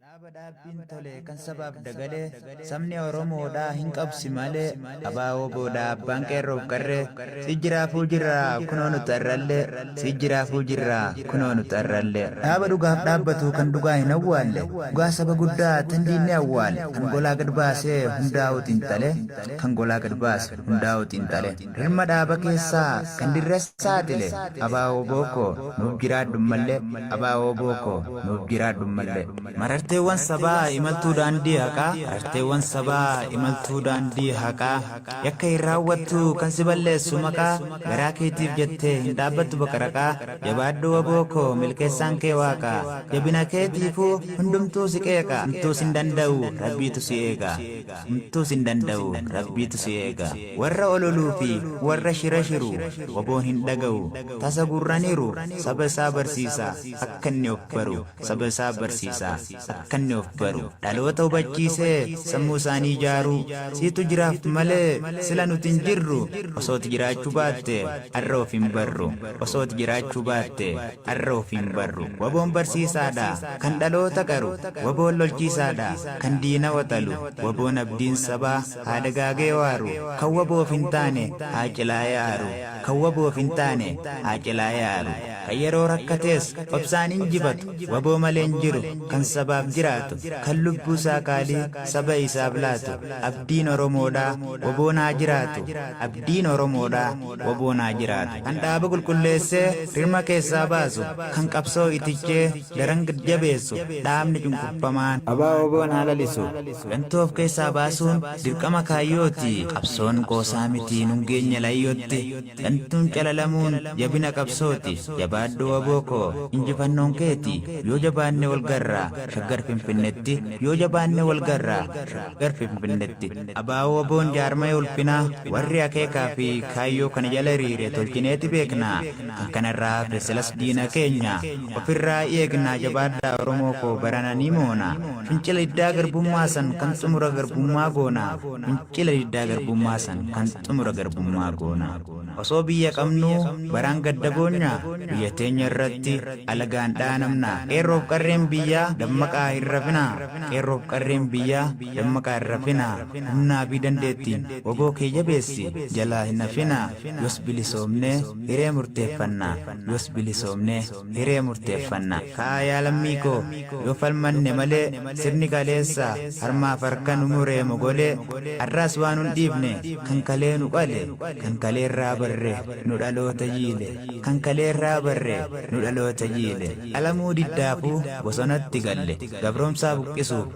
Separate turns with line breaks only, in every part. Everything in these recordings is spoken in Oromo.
Dhaaba dhaabbiin tole kan sabaaf dagale sabni Oromoodhaa hin qabsi malee abaa woboodhaa abbaan qeerroof qarree si jiraafuu jirraa kunoo nuti arrallee si jiraafuu jirraa kunoo nuti arrallee dhaaba dhugaaf dhaabbatu kan dhugaa hin awwaalle dhugaa saba guddaa tan diinni awwaale kan golaa gad baasee hundaa'uu xiinxale kan golaa gad baase. hundaa'u xiinxale. Rirma dhaaba keessaa kan dirra saaxile Aba-wbo koo nuuf jiraadhu mmalle Aba-wbo koo nuuf jiraadhu mmalle. Mararteewwan sabaa imaltuu daandii haqaa Mararteewwan sabaa imaltuu daandii haqaa Yakka hin raawwattu kan si balleessu maqaa Garaa keetiif jettee hin dhaabbattu baqaraqaa Jabaadhu wbo koo milkeessaan kee waaqa Jabina keetiifuu hundumtuu si qeeqa Homtuu sin danda'u rabbiitu si eega. Homtuu sin danda'u rabbiitu si eega. Warra ololuu fi warra shira shiru wboon hin dhaga'u tasa gurraniiru saba isaa barsiisa akka inni of baru saba isaa barsiisa akka inni of baru dhaloota hubachiisee sammuu isaanii ijaaruu siitu jiraaf malee sila nuti hin jirru osooti jiraachuu baatte arra of hin barru osooti jiraachuu baatte Qarroo fi hin barru. Waboon barsiisaa dha, kan dhaloota qaru. Waboon lolchiisaa dha, kan diina waxalu. Waboon abdiin sabaa, haa dagaagee waaru. Kan waboof hin taane, haa cilaa'ee aaru. Kan waboof hin taane, haa cilaa'ee aaru. Kan yeroo rakkatees, obsaan injifatu. Waboo malee hin jiru, kan sabaaf jiraatu. Kan lubbuu isaa qaalii, saba isaaf laatu. Abdiin Oromoo dha, waboon haa jiraatu. Abdiin Oromoo dha. wbo naa jiraatu kan dhaaba qulqulleessee rirma keessaa baasu kan qabsoo itichee daran gad jabeessu dhaabni cunqurfamaan. Abaa wbo naa lalisu gantuu of keessaa baasuun dirqama kaayyooti qabsoon qoosaa miti nun geenya layyootti gantuun calalamuun jabina qabsooti jabaadhu wbo koo injifannoon keeti yoo jabaanne wal garra shaggar finfinnetti yoo jabaanne wal garra shaggar finfinnetti. Aba-WBOn jaarmaya ulfinaa, warri akeekaa fi kaayyoo kana jala hiriire tolchineeti beekna. Kan kana irraa hafe silas diina keenya. Of irraa eegnaa jabaadhaa Oromoo koo barana ni moona. Fincila diddaa garbummaa san kan xumura garbummaa goona. Fincila diddaa garbummaa san kan xumura garbummaa goona. Osoo biyya qabnuu baraan gadda boonya? Biyya teenya irratti alagaan dhaanamna. Qeerroof qarreen biyyaa dammaqaa hin rafinaa. Qeerroof qarreen biyyaa Dammaqaa hin rafinaa, humnaa fi dandeettiin wbo kee jabeessi, jalaa hin hafinaa, yoos bilisoomnee hiree murteeffanna, yoos bilisoomnee hiree murteeffanna. Ka'aa yaa lammii koo, yoo falmanne malee, sirni kaleessaa harmaaf harka nu muree mogolee, har'aas waa nun dhiifne, kan kalee nu qale, kan kalee irraa barre, nu dhaloota jiile, kan kalee irraa barre, nu dhaloota jiile. Qalamuu diddaafuu bosonatti galle, gabroomsaa buqqisuuf,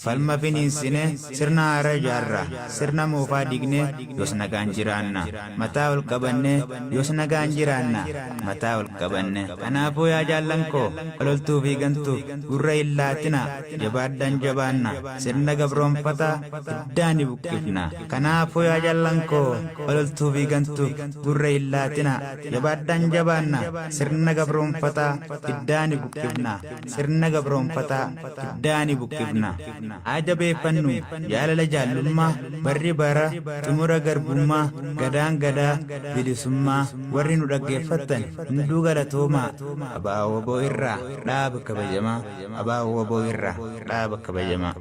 Falma finiinsine, sirna haaraa ijaarra, sirna moofaa diigne, yoos nagaan jiraanna. Mataa ol qabanne, yoos nagaan jiraanna. Mataa ol qabanne. Kanaafuu yaa jaallan koo, ololtuu fi gantuuf gurra hin laatinaa. Jabaadhaan jabaanna. Sirna gabroomfataa iddaan ni buqqifna. Kanaafuu yaa jaallan koo, ololtuu fi gantuuf gurra hin laatinaa. Jabaadhaan jabaanna. Sirna gabroomfataa iddaan ni buqqifna. sirna gabroomfataa dugdaa ni buqqifna. Haa jabeeffannu jaalala jaallummaa barri bara xumura garbummaa Gadaan Gadaa bilisummaa Warri nu dhaggeeffattan hunduu galatoomaa Abo-wbo irraa dhaaba kabajamaa Abo-wbo irraa dhaaba kabajamaa.